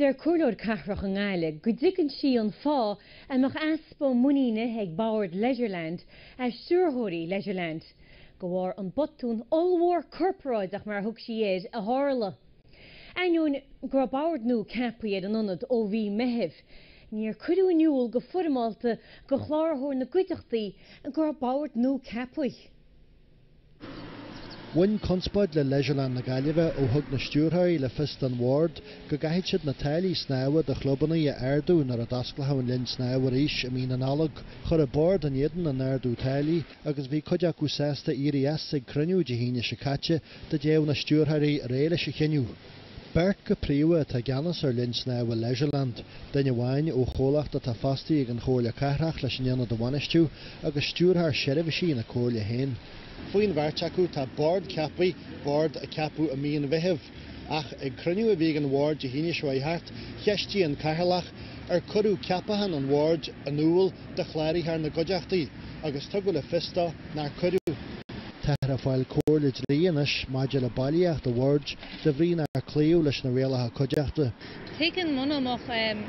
Deir Comhairleoir Cathrach i nGaillimh go dtuigeann sí an fáth a mbeadh easpa muiníne ag Bord Leisureland as stiúrthóirí Leisureland, de bharr botún ollmhór corparáideach mar a thug sí air a tharla. Ainneoin go raibh bord nua ceapaithe ar an ionad ó mhí Mheithimh, níor cuireadh in iúl go foirmeálta go chláraitheoir na gcuideachtaí go raibh bord nua ceapaithe. Bhain conspóid le Leisureland na Gaillimhe ó thug na stiúrthóirí le fios don Bhord go gcaithfeadh siad na táillí snámha do chlubanna a ardú nuair a d'osclódh an Linn Snámha arís i mí na Nollag. Chuir an Bord in éadan an ardú táillí agus bhí cuid acu sásta éirí as ag cruinniú Dé hAoine seo caite. dá dtéadh na stiúrthóirí ar aghaidh leis an chinneadh. Beirt go príomha atá i gceannas ar linn snámha Leisureland, duine amháin ó chomhlacht atá fostaithe ag an Chomhairle Cathrach leis an ionad a bhainistiú, agus stiúrthóir seirbhísí na Comhairle féin. Faoin bheirt acu tá bord ceaptha, bord a ceapadh i mí an Mheithimh, ach ag cruinniú a bhí ag an bhord Dé hAoine seo thart, cheistigh an Cathaoirleach ar cuireadh ceapachán an bhoird in iúl do chláraitheoir na gcuideachtaí agus tugadh le fios dó, nár cuireadh. Táthar ag fáil comhairle dlí anois maidir le bailíocht an bhoird de bhrí nár cloíodh leis na rialacha cuideachta. Tuigim muna mbeadh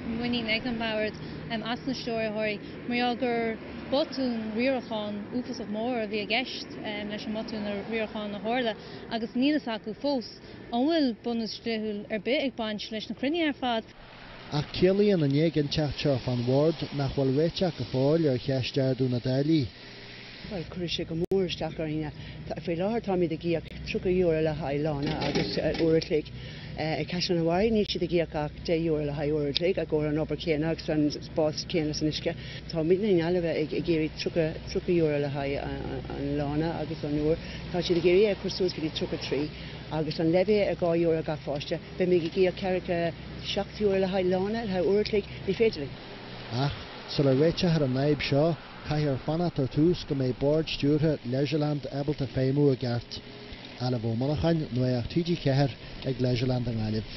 muinín ag an mBord as na Stiúrthóirí mar gheall gur botún riaracháin uafásach mór a bhí i gceist leis an mbotún riaracháin a tharla agus níl fhios acu fós an bhfuil bunús dlíthiúil ar bith ag baint leis na cruinnithe ar fad. Ach ciallaíonn an éiginnteacht seo fán Bhord nach bhfuil réiteach go fóill ar cheist ardú na dtáillí. Bhuel, cuirfidh sé go mór isteach orainn. Faoi láthair táimid ag íoc €30 le haghaidh lána agus uair a chloig ag Caisleán an Bharraigh, níl siad ag íoc ach €10 le haghaidh uair a chloig i gcomhair an obair chéanna agus an spás céanna san uisce. Táimidne i nGaillimh ag iarraidh €30 le haghaidh an lána agus an uair, tá siad ag iarraidh é a chur suas go dtí 33, agus an levy ar €2 gach pháiste. Beimid ag íoc ceathracha seacht euro le haghaidh lána, le haghaidh uair an chloig, ní féidir linn. Ach, sula réiteofar an fhadhb seo, caithfear fanacht ar dtús go mbeidh bord stiúrtha Leisureland ábalta feidhmiú i gceart. Ailbhe Ó Monacháin, Nuacht TG4 ag Leisureland i nGaillimh.